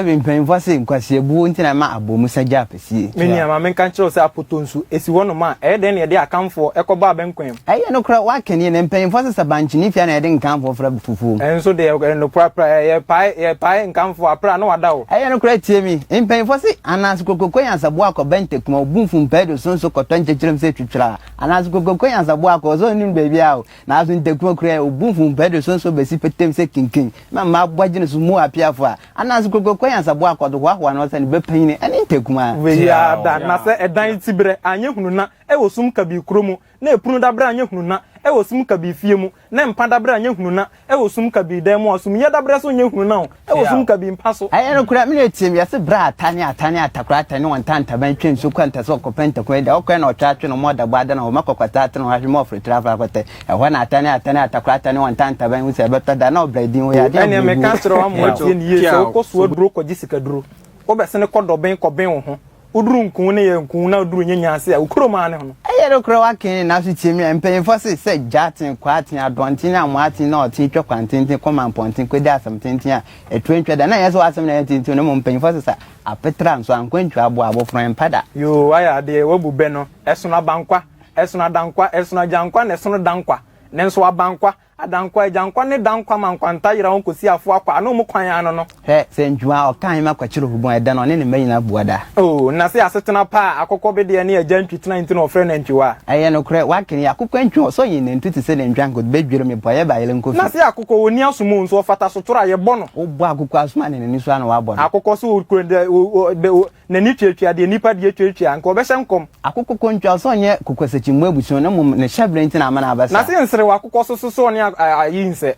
Ɛbi mpanyimfo ase nkwaseabuo nti na ɛma Abomusa gyaa pɛsie. Me nua, ma menka nkyerɛ wo sɛ apoto nso, ɛsi hɔnom a, ɛyɛ dɛn na yɛde Akanfoɔ kɔbɔ abɛnkwan? Ɛyɛ nokorɛ, woaka nie, na mpanyimfo ase sɛ bankyene fie a na yɛde Nkanfoɔ frɛ afufuo mu. Ɛnso deɛ, ɛyɛ nokorɛ aprɛ, yɛpae, yɛpae Nkanfoɔ aprɛ a na wɔada hɔ. Ɛyɛ nokorɛ, tie me, mpanyimfo ase, anaase Kokroko Nyansaboa akɔ Bɛntakuma, Obumfu Mpaido so nso kɔtɔ nkyekyerem sɛ twitwiraa, anaase Kokroko Nyansaboa akɔ, ɔsɛ ɔnnim baabiara o, Naaso ntaku kor a obu mfom pɛ do sonsɔn besi petee mu sɛ kenken ma mma abɔdz no so mu apeafo a, anan so kokroko anyansabɔ akɔ do hoahoa no ɔsɛ ne ba panyin no ne ntaku mu ara. Wei ara da, na sɛ dan tsiberɛ annyɛ hunu na wɔ sum kabii kuro mu, na ɛpunu daberɛ annyɛ hunu na wɔ sum kabii fie mu, na mpa daberɛ annyɛ hunu na wɔ sum kabii dan mu a, sum yɛ daberɛ so nnyɛ hunu na wɔ. Ɛwɔ sum kabii mpa so. Ɛyɛ nokorɛ, me na ɛteam, yɛse berɛ a ata ne ata ne atakora ata ne ɔnta ntaban twa nsuo kɔ anta sɛ ɔkɔpɛ ntakun adi a, ɔkɔɛ na ɔtwa atwe no ma ɔda bɔ adane hɔ ma kɔkɔtaa ate no hɔ ahwe ma ɔforo tiri afa akɔtɛ ɛhɔ na ata ne ata ne atakora ata ne ɔnta ntaban hu sɛ ɛbɛtɔ da na ɔbra din hɔ yɛ adeɛ a ɛnneɛ meka akyerɛ wo ama woatie no yie sɛ wokɔ soa duro kɔgye sikaduro wobɛsene kɔ dɔben kɔben wo ho Woduru nku ne yɛ nku na woduru nyɛ nya ase a, wo kurom ara ne ho no. Ɛyɛ nokorɛ w'akee ne n'aso tie me a, mpaninfoɔ se sɛ gyaten, kwaaten, adɔnten ne amoaten na ɔten twa kwantenten kɔ mampɔnten kɔdi asɛm tenten a ɛtoa ntwa da na ɛnyɛ sɛ w'asɛm na ɛyɛ tenten na mmom mpaninfoɔ se sɛ apetra nso ankwantua aboa abɔfra ɛmpa da. Yoo wayɛ adeɛ wabu bɛ no ɛsono abankwa ɛsono adankwa ɛsono agyankwa na ɛsono dankwa nanso abankwa Adankwa Agyankwa ne Dankwa ma nkwanta yera wɔn kɔsi afoɔ akɔ ano mu kwan ano no. Hwɛ, sɛ ntwuma a ɔkaa hema kɔkye Rehoboam ɛda no, ɔne ne mma nyinaa bua da. O, na sɛ asetena pa a akokɔbedeɛ ne agya ntwi tena nti na wɔfrɛ no antwiwa a! Ɛyɛ nokorɛ, woaka yi, akokɔ antwi hɔ, sɛ ɔyɛ nnantu te sɛ nantwi anka ɔde bɛdwiri me po a, yɛba ayere nkɔ Na fi. sɛ akokɔ, ɔnni asom o, nso ɔfata sotoro a, yɛbɔ no. Wobɔ akokɔ asom a, ne n'ani so ara na woabɔ no. Akokɔ sɛ ɔkura, N'ani tuatua deɛ nnipa deɛ tuatua, anka ɔbɛhyɛ nkɔm. Akokɔ kontwa so nyɛ kokwasakyimmɔ abusua, na mmom ne hyɛberɛ nti na amena no abɛsa. Na se nserew akokɔ so so ɔne ayi nsɛ?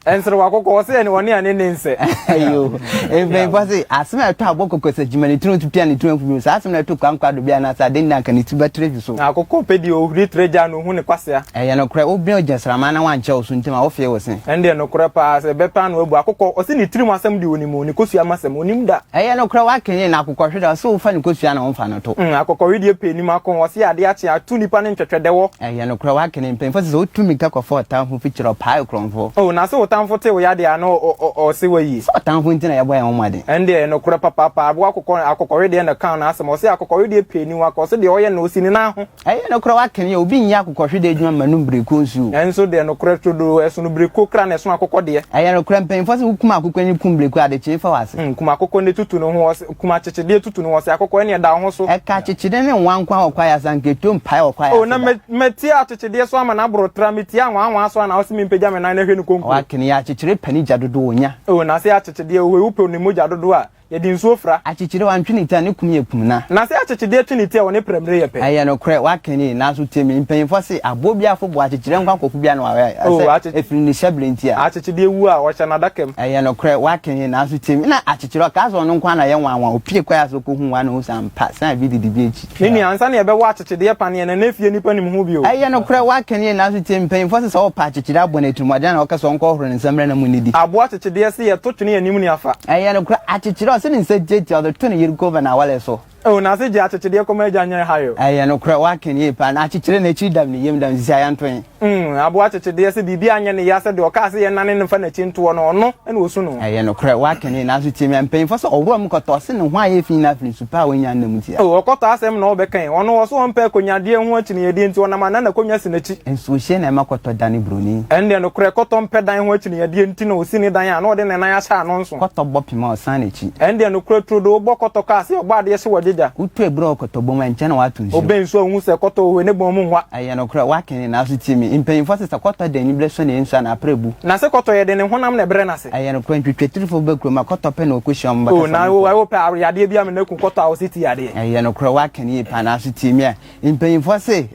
Nserew akokɔ, wɔ se ɔne ane nne nsɛ. Ayoo. Mpanyimfoɔ se, asem a ɛtɔ abɔ kokwasakyimmɔ ne tiri ho tutu a ne tiri ho afu bio no, saa asem no ɛto kwankwa do bia anaase aden nti anka ne ti bɛtere so? Akokɔ pɛ deɛ ohuri tere gya no. hu ne kwasea. Ɛyɛ nokorɛ, wo bene ogyinasramma na wankyɛ wo so ntɛm a, wo fee wo se. Ɛndeɛ nokorɛ paa sɛ bɛ paa na wabu akokɔ, ɔse ne tirim asɛm deɛ ɔnim, ne kosua masɛm ɔnim da. Ɛyɛ nokorɛ wakenyen na akokɔhwe da, ɔse wo fa ne kosua na wo mfa no to. Umm akokɔhwe deɛ pɛ anim ako, ɔse adeɛ akye a, tu nipa ne ntwɛtwɛ dɛ wɔ. Ɛyɛ nokorɛ wakenyen mpanyinfoɔ se sɛ wo tu mirika kɔ fa ɔtanfo fi kyerɛ ɔpaa ɛkorɔnfoɔ. Oh na se otanfo te wo yadeɛ a na ɔ ɔ ɔ ɔse wayi. Sɛ ɔtanfo nti na yɛ bɔ yɛn ho mmɔden. Ɛndeɛ ɛyɛ nokorɛ papaapa, aboa akokɔ, akokɔhwe deɛ na kan no asɛm, ɔse akokɔhwe deɛ pɛ anim ako, ɔse deɛ ɔyɛ no ɔsi ne nan ho. Ɛyɛ nokorɛ woakane yɛ, obi nyɛ akokɔhwedeɛ adwuma mmanom bireko nso o. Nanso deɛ nokorɛ trodoo, ɛsono bireko kra na ɛsono akokɔ deɛ. Ɛyɛ nokorɛ mpaninfoɔ se wokum akokɔ ani kum bireko a, adekyee fa w'ase. Kum akokɔ ne tutu ne ho, ɔse, kum akyekyedeɛ tutu ne ho, ɔse, akokɔ ɛneɛ da wo ho so. Ɛka akyekyedeɛ ne nwankwa wɔ kwaeɛ ase, anka ɛtuo mpaeɛ wɔ kwaeɛ ase da. O na mɛ, mɛtia akyekyedeɛ so ama no aboro tra, metia nwanwa so a na ɔse mempagya me nan na hwɛ ne konkuo. Woakane yɛ, akyekyere pɛ ne gya dodoɔ ɔnya. O na se akyekyedeɛ, ohoe wopɛ ne mogya dodoɔ a, Yɛde nsuo fira. Akyekyere wa ntwe ne ti a ne kum yɛ kum na. Na sɛ akyekyedeɛ twe ne ti a wɔ ne prɛmire yɛ pɛ. Ɛyɛ nokorɛ w'aka nie nanso tie me mpanyinfoɔ se aboɔ biara fo boɔ akyekyereɛ nko akɔfo biara na wa wɛ asɛ ɛfiri ne hyɛbere nti a. Akyekyedeɛ wu a ɔhyɛ n'adaka mu. Ɛyɛ nokorɛ w'aka nie nanso tie me na akyekyereɛ ɔkaa sɛ ɔno nko ara na yɛ nwanwa opie kɔɛ ase ɔkɔ hu wa na ohu sɛ ampa sɛ na ebi didi bi akyi. Me nua, ansa na yɛbɛwɔ akyekyedeɛ paneɛ no, na efie nnipa nim ho bio. Ɛyɛ nokorɛ, woaka nie, nanso tie, mpaninfoɔ se sɛ ɔɔpɛ akyekyere aboa no atirimuɔden a na ɔka sɛ ɔnkɔ horo ne nsa mmrɛ na mo nnidi. Aboa kyekyedeɛ se yɛto twene yɛn anim ne afa. Ɛyɛ nokorɛ, akyekyere a ɔse ne nsa tiatia ɔde to ne yere Kova na awale so. Oh, na se gye akyekyedie kɔma agya nyɛ ɛha yo. Ɛyɛ nokorɛ, woaka nie paa, na akyekyere no akyiri dam ne yam dam, sisi ayɛntoe. Mm, aboa kyekyedeɛ sɛ biribi anyɛ ne ya sɛ deɛ ɔkaa sɛ yɛnnane no mfa n'akyi ntoɔ no, ɔno na ɔsu no. Ɛyɛ nokorɛ, woakane, nanso tie me, mpanyimfoɔ sɛ ɔworɔ me kɔtɔ, ɔse ne ho ayɛ fi nyinaa firi nsu pa a wannya nna mu tia. O, ɔkɔtɔ asɛm na wobɛkae, ɔno ɔse ɔmpɛ akonyadeɛ ho akyinnyɛdeɛ nti ɔnam anan akonnwa si n'akyi. Nsuohyɛ na ɛma kɔtɔ dane buroni. Ɛnneɛ nokorɛ kɔtɔ mpɛ dan ho akyinnyɛdeɛ nti na ɔsi ne dan a na ɔde ne nan ahyɛ ano nso. Kɔtɔ bɔ pem a ɔsan n'akyi. Ɛnneɛ nokorɛ turodoo wobɔ kɔtɔ kaa sɛ ɔbɔ adeɛ hye wɔ gyegya. Wotu abura wɔ kɔtɔ bɔ mu a ɛnkyɛ na woato nsuo. Wobɛn nsuo a wohu sɛ kɔtɔ wɔ hɔ yi ne bɔn mu hwa. Ɛyɛ nokorɛ, woaka ni, nanso tie me. Mpanimfoɔ se sɛ kɔtɔ da aniberɛ sɔ ne nsu anaa aprɛ bu. Na se kɔtɔ yɛ de ne honam na ɛbrɛ n'ase. Ɛyɛ nokorɛ, ntwitwatirifo bɛba kurom a, kɔtɔ pɛ na wɔkɔhyia wɔn bɛkasa ne nkurɔfoɔ. O, wopɛ a, yadeɛ biara me na ku kɔtɔ a wɔse ti yadeɛ. Ɛyɛ nokorɛ, woaka ni yie paa, nanso tie me a. Mpanimfoɔ se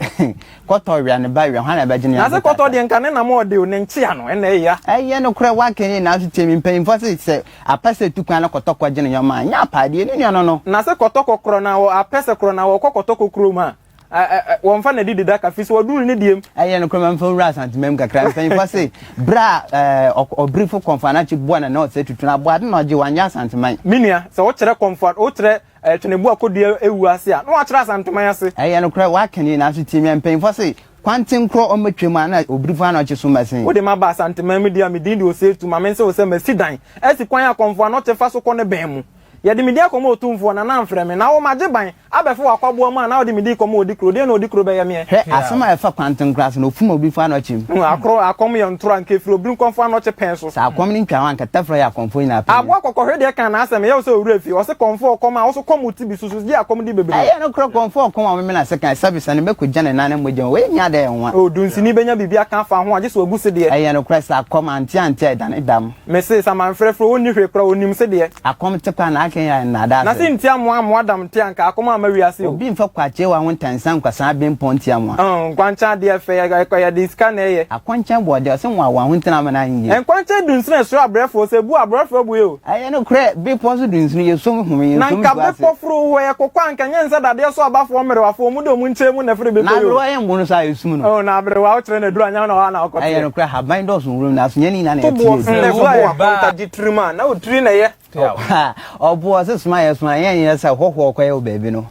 kɔtɔ wea ne ba wea, hwan na ɛbɛgye ne yam agotaasa? Na se kɔtɔ deɛ nka ne nam a ɔde o, ne nkyea no, ɛna ɛya. Ɛyɛ nokorɛ, woaka ni yie, nanso tie me. Mpanimfoɔ se sɛ apɛ sɛ ɛtu kwan na kɔtɔ kɔgye ne yɔma a, nyɛ apaadeɛ, ne nua no no. Na se kɔtɔ kɔ korɔn a, apɛ sɛ korɔn a, wɔkɔ kɔtɔ kɔ kurom a. Ɛ ɛ ɛ wɔmfa na di deda kafi so ɔduru ne deɛm. Ɛyɛ nokorɛ ma mfa nwura Asantemam mu kakra. Mpanyinfoɔ se berɛ a ɛɛ ɔbrifo Kɔmfo Anakye boa Nana Ɔsɛ Tutu no aboa no na ɔgye wanyɛ Asanteman. Me nua, sɛ wokyerɛ Kɔmfo Ad wokyerɛ ɛɛ Tweneboa Akɔdua Awuo ase a, na woakyerɛ Asanteman ase. Ɛyɛ nokorɛ, woaka nie nanso tie me a, mpanyinfoɔ se kwanten korɔ ɔmmɛtwam a na ɔbrifo Anɔkye so mma sin. Wode maba Asanteman mu deɛ a, me din de Ɔsɛtu, ma mense wo sɛ masi dan asi kwan a Kɔmfo Anɔkye fa so kɔ ne bɛn mu. Yɛde me din akɔma otumfoɔ, na na amfrɛ me, na wo magye ban abɛfa w'akwaboa mu a na wode me din kɔma ɔdi kuro, deɛn na ɔdi kuro bɛyɛ meɛ? Hwɛ asɛm a ɛfa kwantenkora so, na ɔfum obi mfa ano kyem. Hu akoro, akɔm yɛ ntoro a nka ɛfiri obirenkɔ mfa ano kye pɛn so. Sɛ akɔm no ntwa hɔ a anka tɛfrɛ yɛ akɔmfoɔ nyinaa panyin. Aboa kɔkɔ hwɛ deɛ kan na asɛm, ɛyɛ wo sɛ owura fie, ɔse kɔmfoɔ ɔkɔm a, wo so kɔm ti bi so so gye akɔm di bebree. Ɛyɛ nokorɛ kɔmfoɔ ɔkɔm a ɔmemene ase kan, sɛbisa no mɛkɔ gya ne nan ne mogya mu, wei nyɛ adeɛ a ɛnwa. O, dunsini bɛnya biribi aka afa ho a, gye sɛ wagu sedeɛ. Ɛyɛ nokorɛ sɛ akɔm ante ante a ɛdane dam. Me se saman frɛfrɛ ɔnni hwee koraa ɔnim sedeɛ. Akɔm te paa na akenyan nnaadaa asem. Na se nti amoa amoa dam nte anka akɔm amma wiase o. Obi mfa kwakyeewa ho ntansa nkwasaa bempɔn nti amoa. Oh nkwankyɛn adeɛ fɛ yɛ yɛde sika na ɛyɛ. Akɔnkyɛn bɔɔdeɛ ɔse moa wɔn ho ntena ama no anyɛ yie. Nkwankyɛn dunsini ɛsoro abrɛfoɔ ɔse bu abrɔfoɔ bu eo. Ɛyɛ nokorɛ bepɔ so dunsini yɛsom home yɛnsom nsuo ase. Na nka bepɔ foro hɔ yɛ kɔkɔ anka ɛnyɛ nsa dadeɛ so abafoɔ mmerewafoɔ ɔmo de ɔmo nkyɛn mu na ɛforo bepɔ yi o. Na aberewa yɛ mmono so a ɛsum no. Oh na aberewa wokyerɛ no aduru anyɛ hɔ na hɔ ara na ɔkɔteɛ. Ɛyɛ nokorɛ ahaban dɔɔso. Nwuram na aso yɛn ne nyinaa na yɛte yɛ din. Ɛfo boɔ akɔnta gye tirim a na otiri na ɛyɛ. Ɔboɔ se soma yɛ soma yɛn yɛ sɛ hɔhoɔ kɔyɛ wɔ baabi no.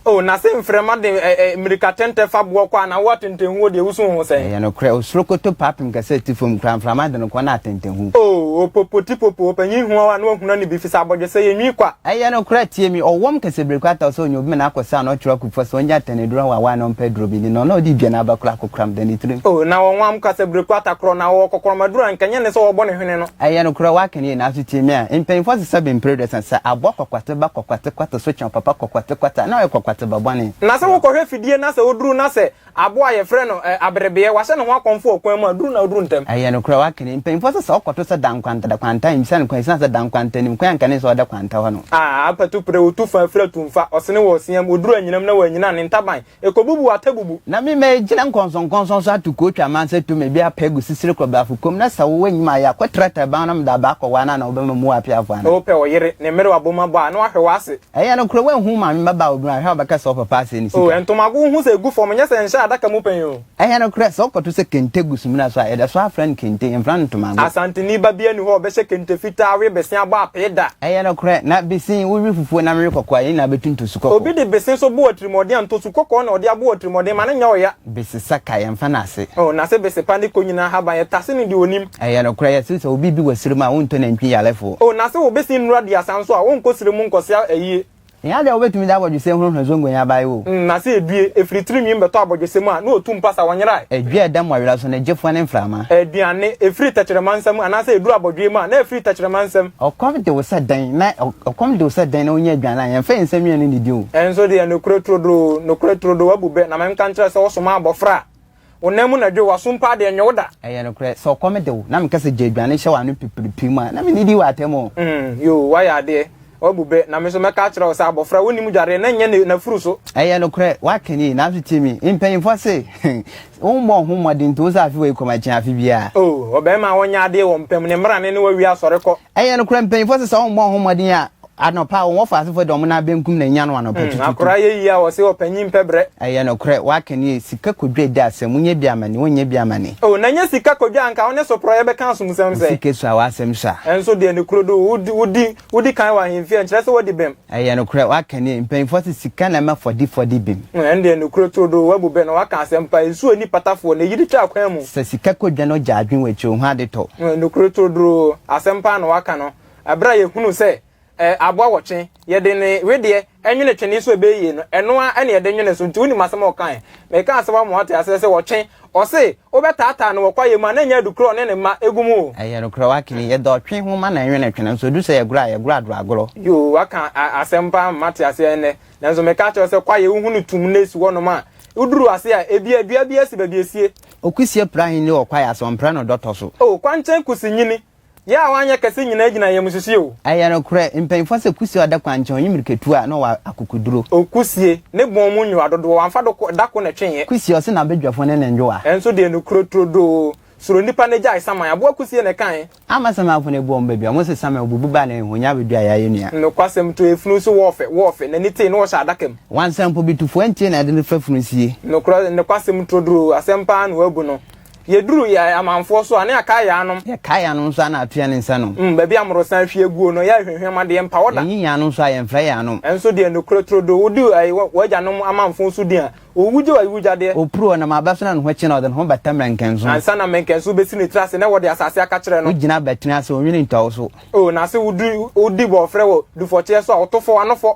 O na se mframa de mmirika tɛntɛ fa boɔ kɔ a na wo atɛntɛnhuo deɛ wosu ho sɛn. Ɛyɛ nokorɛ osorokoto paapem kɛse te fam koraa mframa de no kɔ na atɛntɛnhu. O opopotipopo ɔpanyin huaw a na wahunu ani bi fisɛ abɔdwesɛ yɛ nwi kwa. Ɛyɛ nokorɛ tie me ɔwɔm kɛse bere kwata ɔsɛ ɔnya obi ma no akɔ sɛ ano ɔtwerɛ. For sɛ ɔnya atɛn aduru a wawae na ɔmpɛ aduru bi nni no, na ɔde dua na aba kura akɔkoram da ne tirim. O, na wɔnwam kasabireku atakorɔ, na wɔwɔ kɔkoram aduru a anka ɛnyɛ ne sɛ wɔbɔ ne hwene no. Ɛyɛ nokorɛ, woaka no yie, nanso tie me a, mpanyimfoɔ sesa bi mprɛ aduasa, sɛ aboa kɔkwate ba kɔkwate kwata so kyɛn ɔpapa kɔkwate kwata a, na ɔyɛ kɔkwate ba bɔne. Na sɛ wokɔhwɛ fidie na sɛ woduru na sɛ Aboa a yɛfrɛ no aberebeɛ, wahyɛ ne ho akɔmfo wɔ kwan mu a, duru na ɔduru ntɛm. Ɛyɛ nokorɛ, woaka no. Mpanimfoɔ sɛ sɛ ɔkɔto sɛ dan kwanta da kwanta a, nhyia no kwan ɛsiane sɛ dan kwanta nim kwan a nka ne sɛ ɔda kwanta hɔ no. A apatu pere wo tu fa afiri atumfa, ɔsene wɔ ɔseam, ɔduru anyinam na wanyina ne ntaban, ɛkɔbubu atabubu. Na me mɛgyina nkɔnsɔnkɔnsɔn so ato kootu aman sɛ tu me bi apɛ agu sisire kɔbrafo kɔn mu, na sɛ wowɔ anim ayɛ a, kɔtra taban ho na mede aba akɔware no anaa wobɛma mu wɔ apeafoɔ anaa? Wopɛ ɔyere, ne mmerewa bom abɔ a, na wahwe w'ase. Ɛyɛ nokorɛ woanhu wo maame mmabaa obunu a, hwɛ a wobɛka sɛ ɔpapa asɛe ne sika. O ntomago wohu sɛ ɛgu fam, nyɛ sɛ ɛnhyɛ adaka mu pɛn o. Ɛyɛ nokorɛ sɛ wokɔto sɛ kente gu sumina so a, yɛda so ara frɛ no kente, yɛmfrɛ no ntomago. Asanteni ba biara nni hɔ a ɔbɛhyɛ kente fitaa we bese abɔ apee da. Ɛyɛ nokorɛ, na bese wowe fufuo nam we kɔkɔɔ a, yɛn nyinaa bɛtu ntosu kɔkɔɔ. Obi de bese nso bo atirimuɔden a, ntosu kɔkɔɔ na ɔde abɔ atirimuɔden ma no nyɛ ɔya. Bese saka, yɛmfa no ase. O nase bese pa ne konyina ahaban, yɛtase no deɛ ɔnim. Ɛyɛ nokorɛ, yɛse sɛ obi bi wɔ serɛ mu a, wontɔ nantwi yarefoɔ. O na se wobesi nnura duasa nso a, wonkɔ serɛ mu nkɔsea ayie. Nya adeɛ a wobetumi de abɔdwesɛ hohoro zongo yi abae o. N na se edue, efiri tirinwim bɛtɔ abɔdwesɛ mu a, na otu mpasa, ɔnyerae. Edue a ɛdam ɔyera so, na egye foa ne mframa. Aduane, efiri tɛkyerɛma nsa mu, anaase eduru abɔdwee mu a, na efiri tɛkyerɛma nsam. Ɔkɔm de wo sɛ dɛn, na ɔkɔm de wo sɛ dɛn na wonya aduane a, yɛmfa yɛn nsa nwia no nnidi o. Ɛnso deɛ, nokorɛ turodoo, nokorɛ turodoo, wabu bɛ, na menka nkyerɛ sɛ wosomaa abɔfra a. Wo nan mu na dwo, w'aso mpo ade, ɛnyɛ wo da. Ɛyɛ nokorɛ, sɛ ɔkɔm de wo. Na meka sɛ, Gya aduane hyɛ w'ano pipiripim a, na mennidi w'atɛm o. Mm, yoo, woayɛ adeɛ, woabu bɛ. Na me nso mɛka akyerɛ wo sɛ, abɔfra a ɔnnim dwareɛ no nyɛ n'afuru so. Ɛyɛ nokorɛ, woaka nie. Nanso tie me, mpanimfoɔ se, Wommɔ wo ho mmɔden nto wo sɛ afe wei kɔm akyɛn afe biara. Oo, ɔbarima a ɔnyɛ adeɛ wɔ mpa mu, ne mmara ne ne wɔ awie asɔre kɔ. Ɛyɛ nokorɛ, mpanyinfoɔ sɛ sɛ wɔn mmɔ wɔn ho mmɔden a, anɔpa wɔn wɔ faasefoɔ de wɔn nan benkum na enya no anɔpa tututu. Hmm, akora ayɛ yie a wɔse ɔpanyin mpɛ brɛ. Ɛyɛ nokorɛ, w'aka nie, sika kɔdwa edi asɛm, wonyɛ bi amane, wonyɛ bi amane. Oh, na nyɛ sika kɔdwa a anka wone soprɔyɛ bɛka asomsɛm sɛ. Wo sika sua, w'asɛm sua. Ɛnso deɛ ne kuro do, wodi, wodi, wodi kan wɔ ahemfie a, nkyerɛ sɛ wadi bem. Ɛyɛ nokorɛ, w'aka nie, mpaninfoɔ se sika na ɛma fɔdifɔ di bem. Hm, ɛno deɛ nokorɛ turo do, w'abu bɛ na w'aka asɛm pa, nsuo anni patafoɔ na ɛyiri twa akwan mu. Sɛ sika kɔ dwa na ɔgya adwene wɔ akyire ohu ade tɔ. Hm, nokorɛ turo do, asɛm paa na w'aka no, ɛberɛ a yɛhunu sɛ eh, aboa wɔ twe, yɛde ne wedeɛ ɛnwene twene so ɛbɛyɛ yie no, ɛno ara na yɛde nwene so, nti wonim asɛm a ɔkaɛ, mekaa sɛ w'ama w'ate aseɛ sɛ ɔtwe, Ɔse wobɛtaataa no wɔ kwaeɛ mu a na ɛnyɛ adukorɔ ne ne mma gu mu o. Ɛyɛ nokorɛ wakini yɛ dɔ twe ho ma na ɛnwene twe nanso ɛduru sɛ yɛgorɔ a yɛgorɔ adorɔ agorɔ. Yoo waka asɛm paa mma te aseɛ ɛnnɛ nanso meka kyerɛ wo sɛ kwaeɛ wohu no tum na ɛsi hɔ nom a woduru ase a ɛbia dua bi asi baabi ɛsie. Okusie pra ahenni wɔ kwaeɛ ase ɔmprɛ no dɔtɔ so. Oh kwankyɛn kusi nyini Yɛ a wanyɛ kɛse nyinaa gyina ayamususi o. Ɛyɛ nokorɛ, mpanyinfoɔ sɛ Kusie a ɔda kwan nkyɛn, ɔnye mirikatuo a na ɔwɔ akokoduro. O Kusie, ne bɔn mu nwowa dodoɔ, wamfa do ko, da ko na ɛtweeɛ. Kusie, ɔse n'abadwafoɔ ne ne nwowa. Nso deɛ nokorɛ turodoo, suro nipa na gyae saman, aboa Kusie na ɛkae. Ama samanfoɔ no abu wɔn badua, wɔn se saman obubu ba ne honya abɛdua yɛ ayɛ nua. Nokwasɛm to efunu nso wɔɔfɛ, wɔɔfɛ, n'ani tee na wɔhyɛ adaka mu. Wansa mpo, bitufoɔ ntie na ɛde no fa funu sie. Nokorɛ, nokwasɛm turodoo, asɛm paa na wɔabu no, Yɛduru yɛ amanfoɔ so a, ne yɛakae yɛ anom. Yɛkae yɛ anom nso a, ne atea ne nsa nom. Mm, baabi a mmorosan ahwie aguo no, yɛrehwehwɛ mu adeɛ, mpa wɔ da. Yɛnyi yɛ anom nso a, yɛmfrɛ yɛ anom. Nso deɛ nokorɛ turo do, wodi ai wɔ w'agyanom amanfo so din a, owugye wɔ awugyadeɛ. Opuro ɔnam abɛso na ne ho kye na ɔde ne ho bata mmɛnkɛnso. Ansa na mmɛnkɛnso besi ne tiri ase na wɔde asase aka kyerɛ no. Ogyina abɛtene ase, onwene ntwa wo so. O, na se wodi, wodi bɔɔfrɛ wɔ dufɔteɛ so a, ɔto fɔ, ano fɔ.